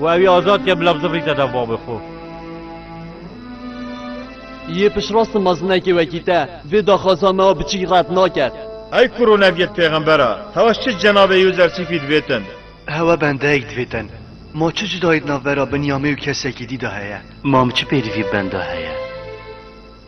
û ew ê azad ke bila bizifrîte dev bavê xwe. Yê piştrast mezinekê wekî te vê daxwaza me a biçîk red nake. Ey kuro neviyet pêxember a, hewa çi cenabê Yûzersîfî divêtin? Hewa bendeyek divêtin. Ma çi cudayî di navbera Binyamê û kesekî dî de heye? Mam çi pêdivî bi benda heye?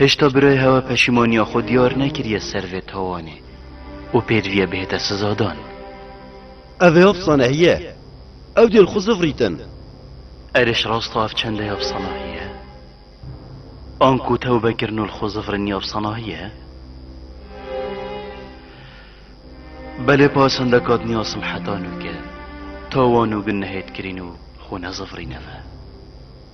Hêşta birayê hewa peşîmaniya xwe diyar nekiriye ser vê tawanê û pêdiviye bihête sizadan. Ev ê efsanehî ye. Ew dê li xwe zivrîtin. Êrîş rasta ev çendê efsanehî ye. Anku tewbe kirin û li xwe zivrinî efsanehî ye. Belê pasende kat niyasim heta nûke. Tawan û gunehê dikirîn û xwe nezivrîne ve.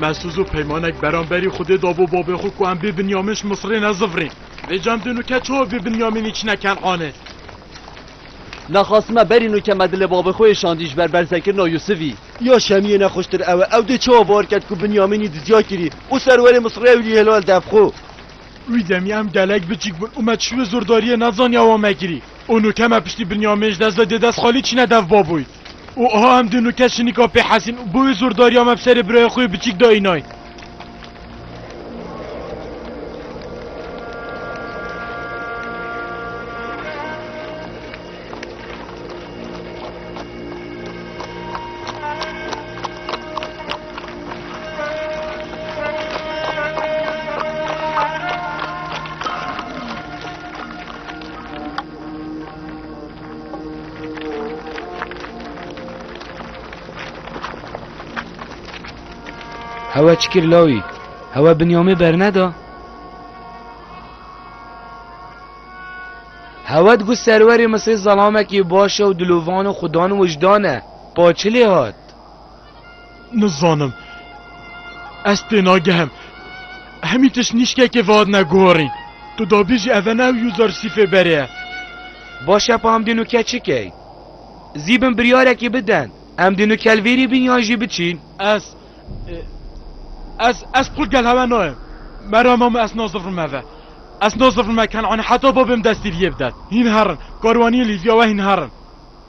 Mesûz û peymanek beramberî xudê dabo babê xwe ku em bê Binyamin ji Misirê nezivirîn. Vê cem din û ke çawa bê Binyaminî çine Kenanê. Nexasime berî nû ke me dilê babê xwe yê şandî ji ber berzekirina Yûsivî. Ya Şemiyê nexweştir ew e. Ew dê çawa bawer kerd ku Binyaminî dizya kirî û serwerê Misirê ewilî hêlo li dev xwe. Wî demê em gelek biçîk bûn û me çiwê zordariyê nezaniya wan mekirî. Û nûke me piştî Binyamîn ji dest ve dê dest xalî çîne dev baboyî. Û aha em du nûke şinîka pê Hesîn û bi wê zordariya me bi serê birayê xwe yê biçîk de înayn. Hewa çikir lawî, hewa binyamê berneda. Hewa di gul serwerê misê zelamekî baş e û dilovan û xudan wijdan e. Paçilê hat. Nizanim. Ez tênagihim. Hemî tişt nîşkekê vehatine guherîn. Tu dabî jî ev e ne ew Yûzar Sîfê berê ye. Baş e pa em dê nukel çi key? Zî bin biryarekî bidin. Em dê nukel vêrî bin yan jî biçîn? Ez. Ez. Ez qul gel hewe nayim. Mera mamo ez nazifrim ev e. Ez nazifrim e Kenanê heta babê min destî li yê bide. Hîn herin. Karwaniyên Lîvya we hîn herin.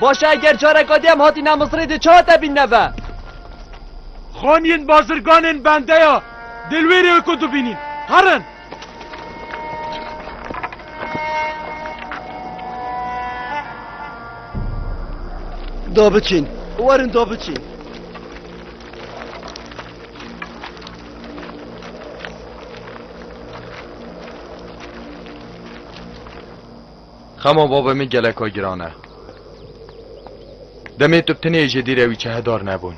Baş e eger careka dê em hatîne Misrê dê çi hate bîn neve? Xaniyên bazirganên bendeya dê li wê rê ku dibînîn. Herin! Da biçîn. Werin da biçîn. Xema bavê min geleka giran e. Demê tu tinê ji dîrê wî çehedar nebûn.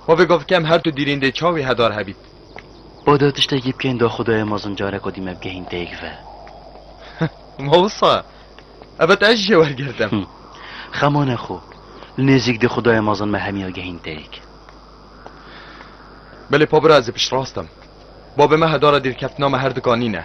Xwe vêga bikem her tu dîrîn dê çawî hedar hebît. Bade tiştekî bikên da xwedayê mezin carek odî me bigehîn teyêk ve. Ma wisa? Evet ez jê wergirtim. Xema ne xwe. Li nêzîk dê xwedayê mezin me hemiya gehîn teyêk. Belê pabira ez ê piştrast im. Bavê me hedara dîrkeftina me her dika nîne.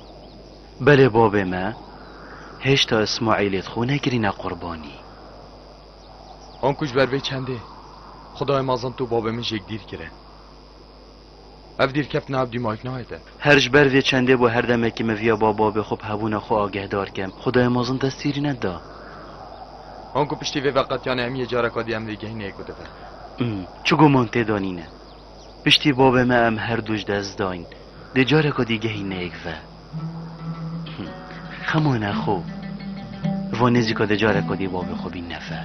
Belê bavê me, hêşta Ismaîlê di xwe nekirîne qurbanî. Hon ku ji ber vê çendê Xwedayê Mazin tu û bavê min jêk dîr kirin. Ev dîr keftina ev dîmayîk nahêtin. Her ji ber vê çendê bû her demekî min viya ba bavê xwe bi hebûna xwe agehdar kim. Xwedayê Mazin dest tîrî neda. Hon ku piştî vê veqetiyanê em yê careka dî em vê gehîneyê ku dibin. Çi guman tê de nîne. Piştî bavê me em her du ji dest dayîn. Dê careka dî gehî nêgive. Xema ne xo. Li van nêzîka dê careka dî bavê xwe bîn neve.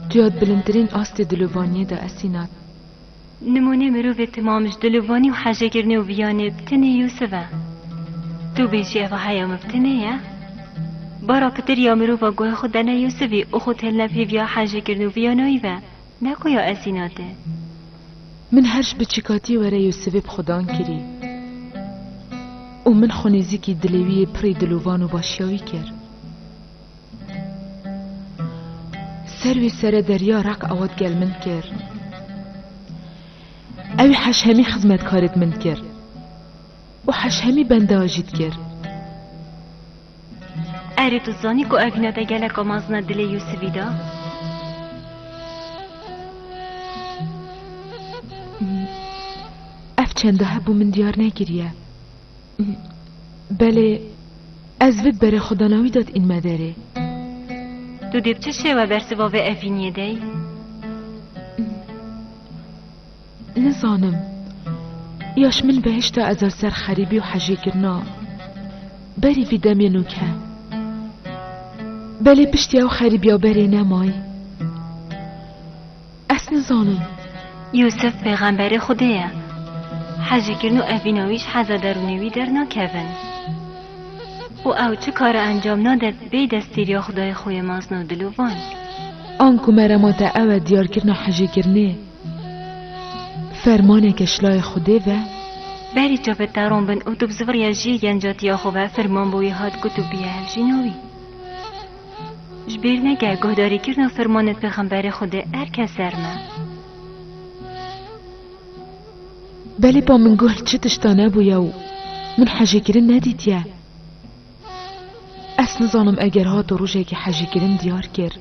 Tu ya di bilindtirîn astê dilovaniyê de esî nat. Nimûnê mirovê timam ji dilûvanî û hejekirnê û viyanê bi tinê Yûsif e. Tu bêjî ev a heya min bi tinê ye? Bara pitir ya mirova guhê xwe dene Yûsifî û xwe têline pîv ya hejekirn û viyanayî ve, ne ku ya Esînatê. Min her ji biçîkatî were Yûsifê bi xwe dan kirî û min xwe nêzîkî dilê wî yê pirrî dilûvan û başiya wî kir. Ser wî sere derya req ewa digel min kir. Ewî heşhemî xizmetkarê di min kir û heşhemî benda jî dikir. Erê tu zanî ku evîna te geleka mezin e dilê Yûsivî de? Ev çend hebû min diyar nekiriye. Belê, ez vid berê xwe dana wî dat înme derê. Tu dê bi çi şêwe bersiva vê evîniyê de yî? Nizanim. Ya ji min behişta ez a ser xerîbî û hejêkirina berî vî demê nûk he. Belê piştî ew xerîbîya berê nemayî. Ez nizanim. Yûsif pêxemberê Xwedê ye. Hezî kirin û evîna wî ji heza derûnê wî dernakevin. Û ew çi kare encam nade bê destgîriya Xwedayê xwe yê mezin û dil û van. An ku me re ma te ew e diyarkirina hezîkirinê fermaneke ji layê Xwedê ve. Berî çapê te rom bin û tu bi zivirya jiyê gencatiya xwe ve firman bi wî hat got û bûye hevjîna wî. Ji bîr neke guhdarîkirina fermanên pêxemberê Xwedê erke ser me. Belê ba min guh li çi tişta nebûye û min hejîkirin nedîtiye. Ez nizanim eger hato rojekê hejîkirin diyar kir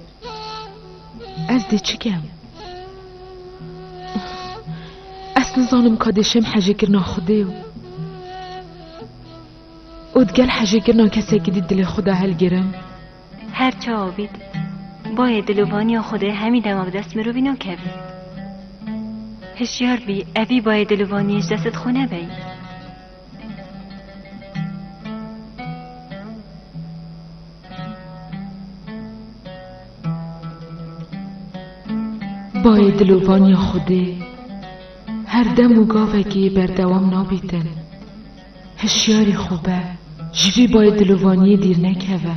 ez dê çi kem? Ez nizanim ka dê şem hejîkirina Xwedê û Û di gel hejîkirina kesekî dî dilê xwe de hilgirim? Her çawa bît, bayê dilovaniya xwe dê hemî demek dest mirovî nakevî. Hişyar bî, evî bayê dilovaniyê ji destê xwe nebeyî. Bayê dilovaniya xwe dê her dem û gavekê berdewam nabîtin. Hişyarî xwe be, ji vî bayê dilovaniyê dîr nekeve.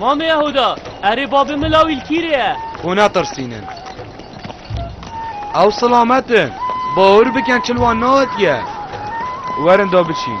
Mamê Yehuda, erê babê min lawîl kîrê ye. Hûn netirsînin. Ew silamet in. Bawir bikin çil wan nehatiye. Werin da biçîn.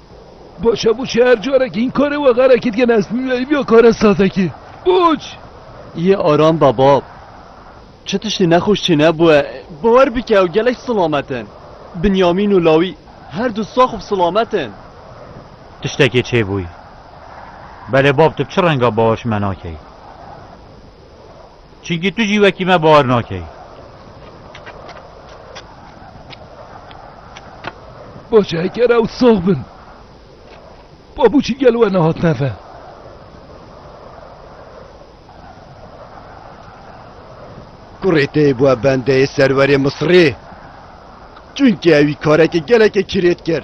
Boçe boçe her carekî în karê we xerekî dike ne vîya kare sazekî. Boç! Yê aram be bab. Çi tiştî nexweş çênebûye bawer bike ew gelek silamet in. Binyamîn û Lawî her du sax û silamet in. Tiştekê çêbûyî. Belê bab tu bi çi renga bawer ji me nakeyî. Çimkî tu jî wekî me bawer nakeyî. Baş e hekere ew sax bin. Babûçî gelo we nehatine ve. Kurê te yê bûe bendeyê serwerê Misirê. Çimkî ewî kareke gelekê kirêt kir.